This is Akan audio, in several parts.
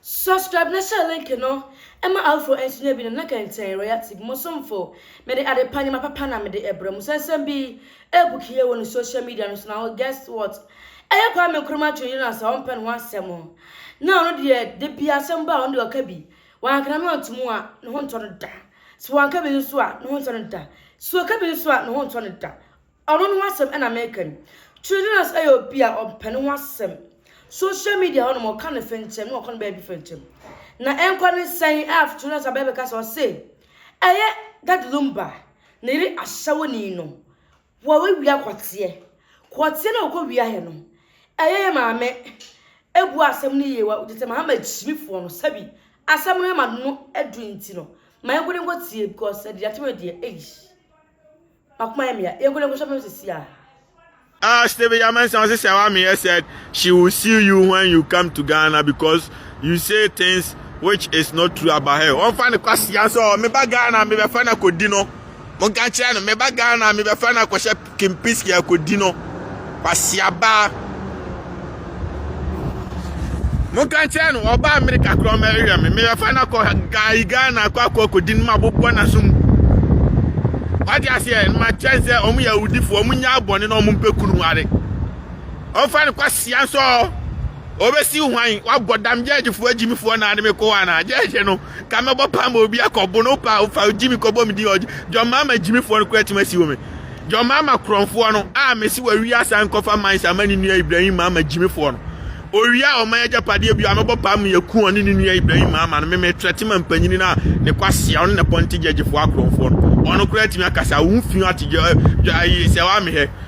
Subscribe na share link no ma afoforo nso nya bi no na kɛntɛn Royal TV mo somfo. Mede ade pa nneɛma papa na mede ɛbrɛ mo sɛ nsɛm bi ɛbuki yɛ wɔ ne social media no so na ho guess what ɛyɛ Kwame Nkrumah Twene Jonas a ɔmpɛ ne ho asɛm na ɔno deɛ da bi asɛm ba a ɔno deɛ ɔka bi wanka na no anto mu a ne ho ntɔ no da sɛ wanka bi nso a ne ho ntɔ no da sɛ ɔka bi nso a ne ho ntɔ no da Ɔno ne ho asɛm na meka yi. Trillionaires yɛ obi a ɔmpɛ ne ho asɛm. Social media hɔ nom ɔka ne fenkyɛm na ɔkɔ ne baabi fenkyɛm. Na ɛnkɔ ne sɛn a trillionaires abɛɛ bɛka sɛ ɔse ɛyɛ Daddy Lumba ne yere ahyɛwoni no wɔawia kɔteɛ. Kɔteɛ no a ɔkɔ wia yɛ no ɛyɛ yɛ maame ebu asɛm no yie wa gye sɛ mahama kyimifoɔ no sɛbi asɛm no ɛma no aduru nti no ma yɛnkɔ ne nkɔ tie because ɛdeɛ akyɛm ɛdeɛ eish. Ah Stephen Yamensa ɔse sɛ wa meyɛ said she will sue you when you come to Ghana because you say things which is not true about her wɔmfa ne kwasia nso ɔ meba Ghana mebɛfa no akɔdi no monka nkyerɛ no meba Ghana mebɛfa no akɔhyɛ kempiski akɔdi no kwasia baa Monka nkyerɛ no ɔba Amerika koraa ɔma ɛyɛ me meyɛfa no akɔ gae Ghana akɔ akɔ akɔdi no ma bobɔ n'aso mu wagye aseɛ no makyɛ n sɛ ɔmo yɛ awudifoɔ ɔmo nya abɔne na ɔmo mpɛ kunu nware ɔmfa no kwasia nso ɔbɛsi hwan wabɔ dam gyɛɛgyefoɔ agyimifoɔ naa ne mekɔ hɔ anaa gyɛɛgye no ka me bɔ paa ma obi akɔ bo no paa ofa ogyi mi kɔbɔ me din ɔgye John Mahama gyimifoɔ no kora tim asi wɔ me John Mahama korɔmfoɔ no a mesi wɔ awia asan nkɔfa mines ama ne nua Ibrahim Mahama gyimifoɔ no owia a ɔman agyapadeɛ bio a mɛbɔ paa ma yɛku ɔne ne nua Ibrahim Mahama no meme trɛte ma mpanyini no a ne kwasia ɔne ne pɔnte gyagyefoɔ akorɔmfoɔ no ɔno kora tim akasa wo mfio ategya sɛ wamehɛ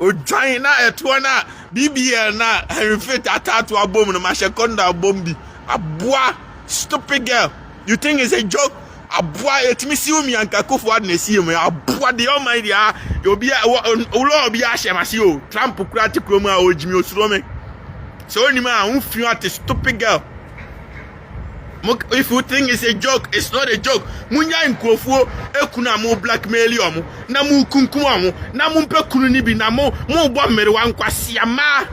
Odwan na ɛtoɔ no a BBL na Henry Fit ataato abom no mahyɛ kɔndɔ abom bi aboa stupid girl you think it's a joke aboa ɛtumi siw mi anka kofo ade na ɛsiɛ mu aboa deɛ ɔma yi deɛ a obi a wulɔ obi ahyɛ ma se o Trump kura te kurom a ɔgyimi osuro me sɛ onim a wofi ate stupid girl Mo if you think it's a joke, it's not a joke. Munya nkurɔfoɔ ekunu a mo blackmail wɔn na mo kunkum wɔn na mo mpɛ kunu ni bi na mo mo bɔ mmerewa nkwasia mmaa.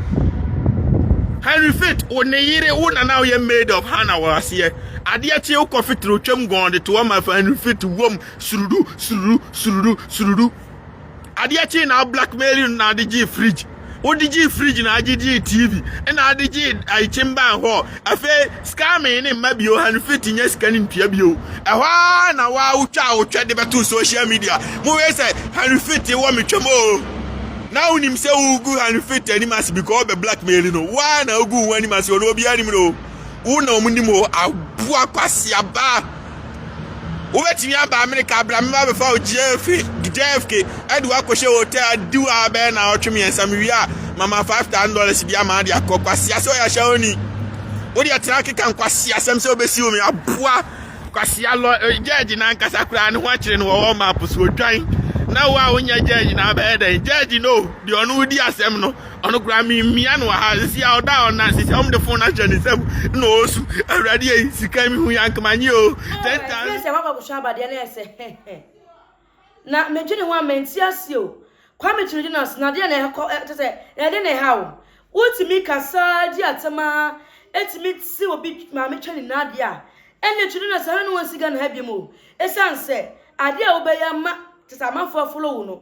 Henry Fit, wo ne yere wo na na yɛ maid of Hannah wɔ aseɛ. Adeɛ kye wo kɔ fitere otwam gɔn de to wɔn ma fa Henry Fit wom surudu surudu surudu surudu. Adeɛ kyee na blackmail no na ade gyee fridge. Wode gyee fridge na agye gyee TV na ade gyee ayi kyemban hɔ. Afei scamming ne mma bio ha no fit nyɛ sika ne ntua bio. Ɛhɔ ara na wa wotwa wotwa de bɛto social media. Mo wei sɛ Henry fit wɔ me twam o. Na wonim sɛ wogu Henry fit anim ase because ɔbɛ blackmail no. Wa na ogu wɔn anim ase ɔno obiara nim no. Wo na wɔn nim o aboa kwasiaba. wobɛtumi aba amerika bra meba bɛfa wo jfk ɛde woakɔhyɛ hotel di wo a bɛyɛ na ɔtwe mmiɛnsa mewie a mama five thousand dollars bi ama de akɔ kwasea sɛ ɔyɛ ahyɛ oni wodeɛ tena keka nkwasea sɛm sɛ wobɛsi wo me aboa kwasea lɔ eh, judge na ankasa koraa ne ho akyerɛ no wɔwɔ map so odwan na wo a wonyɛ judge na abɛyɛ dɛn judge no deɛ ɔno wodi asɛm no Ɔno koraa memmia no wɔ ha. Sisi a ɔda hɔ na sisi a wɔde fon no ahyɛ ne nsam na ɔresu. Awurade ei, sika mi hu yankama nye o. Ten times. Ɛfie sɛ waba abusua aba deɛ na ɛsɛ hɛhɛ. Na medwene ho a mente aseɛ o. Kwame Kyirigyinase na adeɛ na ɛkɔ kyɛ sɛ na ɛde ne ha o. Wotumi kasa di atɛm ara ɛtumi te obi maame twɛ ne nan adeɛ a ɛnna Kyirigyinase ha na wɔnsi Ghana ha biom o. Ɛsiane sɛ adeɛ a wobɛyɛ ama kyɛ sɛ amanfoɔ afolo wo no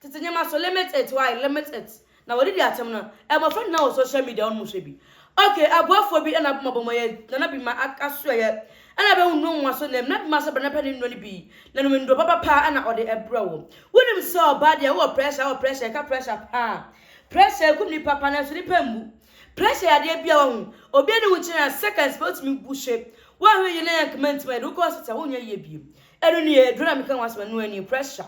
Tete nneɛma so limit it why limit it na wɔde di atem no mmɔfra nyinaa wɔ social media wɔn mu hwɛ bi ok aboafoɔ bi ɛna bɔbɔ mɔ yɛ nana bi ma aka so ɛyɛ ɛna bɛhu nnuro nwa so nnɛm na bi ma sɛ bɛna pɛ ne nnuro no bi na nom nnuro papa paa ɛna ɔde ɛbrɛ wo wonim sɛ ɔbaa deɛ wowɔ pressure wɔ pressure ɛka pressure paa pressure ɛkum nipa paa nanso nipa mmu pressure yɛ adeɛ bia wahu obi ani wo nkyɛn a seconds pɛ wotumi gu hye woanhwɛ yie na yɛnkama nti ma yɛde wokɔ hospital wonyɛ yie biem Ɛno nie, aduro na meka ho asɛm ɛno nie, pressure.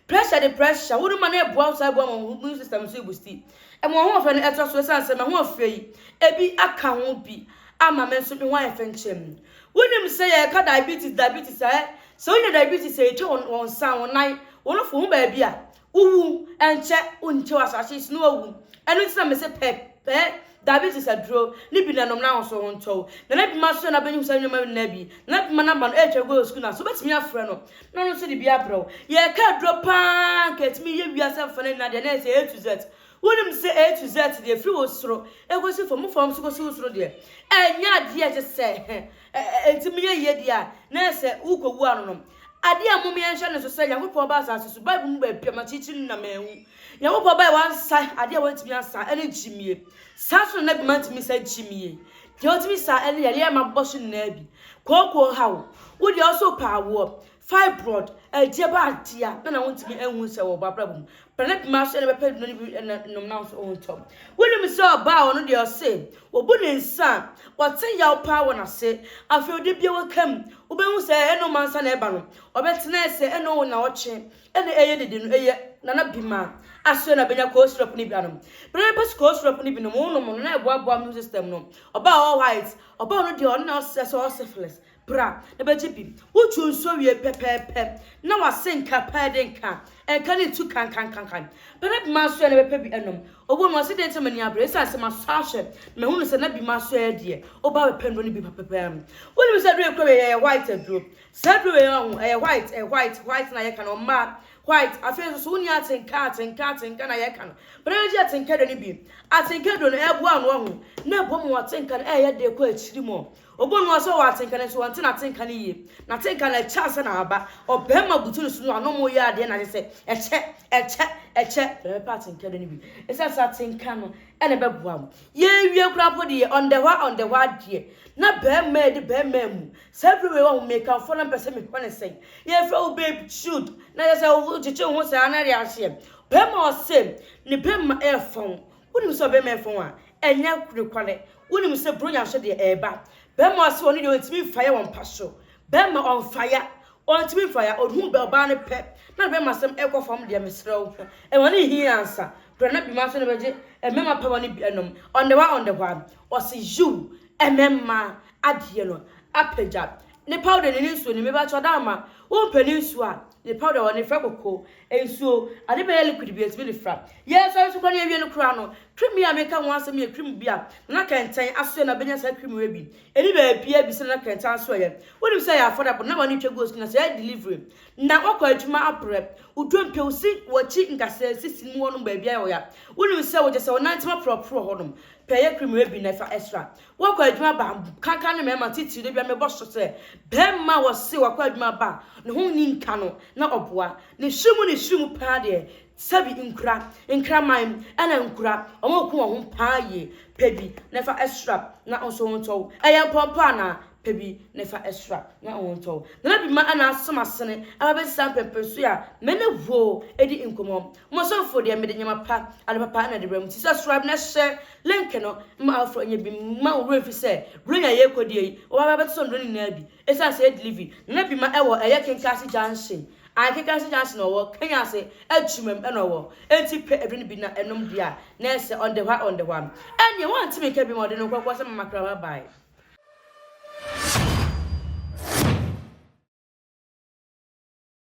Pressure de pressure, wode ma no ɛboa wo saa ɛboa ma wo immune system nso ɛbusti. Ɛma w'ahoɔfɛ no ɛtra so ɛsiane sɛ m'ahoɔfɛ yi ɛbi aka ho bi ama me nso me ho ayɛ fɛ nkyɛm. Wonim sɛ yɛka diabetes diabetes a, sɛ wonya diabetes a ɛtwa wo nsa, wo nan, wo nofo ho baabi a, Wowu nkyɛ nkyɛ wɔ asase so na wɔawu. Ɛno nti na mese pɛ, pɛ, dabi te sɛ aduro, ne bi na nom n'ahosuo ho ntɔ wo. Nana Bima so na bɛnya hu saa nneɛma no nyinaa bi. Nana Bima number no ɛretwa goal school no ase, wobɛtumi afrɛ no na ɔno nso de bi abrɛ wo. Yɛreka aduro pa ara anka ɛtumi yɛ wiase mfa no nyinaa deɛ na ɛyɛ sɛ A to Z. Wonim sɛ A to Z deɛ ɛfiri wo soro ɛkɔsi fam, wo fam nso kɔsi wo soro deɛ, ɛnyɛ adeɛ a ɛte sɛ hɛ. Enti monyɛ yiyedi a na ɛsɛ wokowu anonom. Ade a mmom yɛnhyɛ no nso sɛ Nyankopɔn ba asase so, Bible mu baabi a makyiakyia no na manwu. Nyankopɔn ba a wansa ade a wantumi ansa ne nkyimie. Saa nso na na bi mantumi nsa nkyimie. Deɛ ɔtumi saa ne yareɛ a mabobɔ so nyinaa bi. Kooko haw wo deɛ ɔso pɛ awoɔ. Fibroid, ɛdeɛ ba adeɛ a na na wontumi nhunu sɛ wɔwɔ abrabɔ mu. Bra ne pema so na ɛbɛpɛ no ne bi na nom na nso ɔntɔ. Wonim sɛ ɔbaa a ɔno deɛ ɔse wɔbu ne nsa a, ɔte yaw paa wɔ n'ase. Afei ɔde bi a waka mu, wobɛhu sɛ ɛyɛ ɛno mansa na ɛba no. Ɔbɛtena ɛsɛ ɛno wo nnawɔtwe na ɛyɛ dede no ɛyɛ Nana Bima asoɛ na bɛnya cough syrup no bi anom. Bra ne pɛ so cough syrup no bi nom, wonom no na ɛboaboa immune system no. Ɔbaa a ɔwɔ white, ɔbaa a ɔno deɛ ɔno na ɔsɛ sɛ ɔwɔ syphilis. Bra na bɛgye bi. Wo dwo nso wie pɛpɛɛpɛ na w'asenka pɛɛ de nka nka ne ntu kankankankan. Bɛda bi m'asoɛ na bɛpɛ bi anom. Ɔwɔ mu ɔse deɛ nti na m'ani abre ɛsiane sɛ m'asɔ ahwɛ na mahunu sɛ na bi m'asoɛ deɛ ɔbaa bɛpɛ nnuro no bi papa paa mu. Wonim sɛ aduro a ɛkura wei ɛyɛ white aduro. Saa aduro wei a ho ɛyɛ white ɛyɛ white white na yɛka no ɔmmaa white afei nso so wonni atenka atenka atenka na yɛka no. Bra na bɛgye atenka aduro no bi. Atenka aduro no ɛboa ano ɔho na ɛboa ma w'atenka no ɛyɛ dɛ kɔ akyiri mɔ. Obonua sɛ ɔwɔ atsenka nanso ɔnntse n'atsenka no yie. N'atsenka no ɛkyɛ ansa na aba. Ɔbarimba butu no so no ano ma ɔyɛ adeɛ na kyɛsɛ ɛkyɛ, ɛkyɛ, ɛkyɛ. Hwɛ bɛpɛ atsenka do no bi esiane sɛ atsenka no na ɛbɛboa wo. Yeewie koraa mpo deɛ ɔndɛhɔ a ɔndɛhɔ adeɛ na barimba adi barimba amu. Saa bere wei wahu mekamfoɔ na mepɛsɛ mehwɛ no sɛn. Yɛfrɛ wo babe should na kyɛsɛ wogyegye wo ho saa no ɛde aseɛ. Barimba ɔsɛ ne barimba ɛɛfɔn Wonim sɛ ɔbɛma ɛfɔn a ɛnyɛ nokware. Wonim sɛ Buronya nso deɛ ɛreba. Bɛrima a ɔse ɔno deɛ ɔntumi mfaeɛ wɔ mpa so. Bɛrima ɔnfaeɛ. Ɔntumi mfaeɛ. Ɔhunu ɔbaa no pɛ na ne bɛrima asɛm ɛkɔ fam deɛ mesrɛ wo hwɛ. Ɛma no nhia ansa. Berɛ no bɛma nso na bɛgye mmarima papa no bi anom. On the one on the one. Ɔse yiw mmarima adeɛ no apagya ne powder ne ne nsuo no. Mepakyɛ ɔdamma wo mpɛ ne nsuo a ne powder wɔ no frɛ koko Nsuo, ade bɛyɛ liquid bi a ɛtumi de fra. Yɛresɔre nso koraa na yɛawie no koraa no, cream yi a mereka ho asɛm yi yɛ cream bi a Nana Kɛntɛn asoɛ na bɛnya saa cream wei bi. Ɛnni baabiara bi sɛ Nana Kɛntɛn asoɛeɛ. Wonim sɛ ɛyɛ affordable, na wɔne twa gu osu na sɛ ɛyɛ delivery na woakɔ adwuma abrɛ, wo dompe, wo se w'akyi nkasɛɛ sisi no mu hɔnom baabiara yɛ ɔya. Wonim sɛ wogyesɛ wonante ma porɔporɔ hɔnom pɛ yɛ cream wei bi na fa sra. Wɔkɔ adwuma ba a, kankan me mmarima titiriw. Da bi a mebɔ so sɛ, barima a wɔse wakɔ adwuma ba a ne ho nni nka no na ɔboa. Ne su mu ne su mu paa deɛ, sɛbi nkura, nkraman ɛna nkura. Wɔko wɔn ho paa yie. Pɛ bi na fa sra na wo nso wo ho ntɔ wo. Ɛyɛ mpɔmpɔ anaa? Pɛ bi na fa sra na wo ho ntɔ wo. Nana Bima na asom asene aba abɛsesa mpɛmpɛnsoɛ a me ne wo di nkɔmmɔ. Mo asɔrfo deɛ mede nneɛma pa, ade papa na ɛde brɛ mo, te sɛ srab ne ɛhyɛ, lɛnkɛ no, mma afoforo nyɛ bi mma wo werɛ mfi sɛ, bere nyinaa yɛn kodeɛ yi, wɔba bɛba bɛtotɔ nnuro no nyinaa bi, ɛsiane sɛ ɛyɛ delivery, na na bi ma ɛwɔ ɛyɛ Kinkansi Junction, ae Kinkansi Junction na ɔwɔ, Kenya ase, Adwuma mu na ɔwɔ, enti pɛ aduro no bi na nom deɛ a, na ɛsɛ, on the hɔ a on the hɔ a. Ɛnneɛ wɔante me nka bio ma ɔde no nkorɔkorɔ sɛ Mama Clara bae.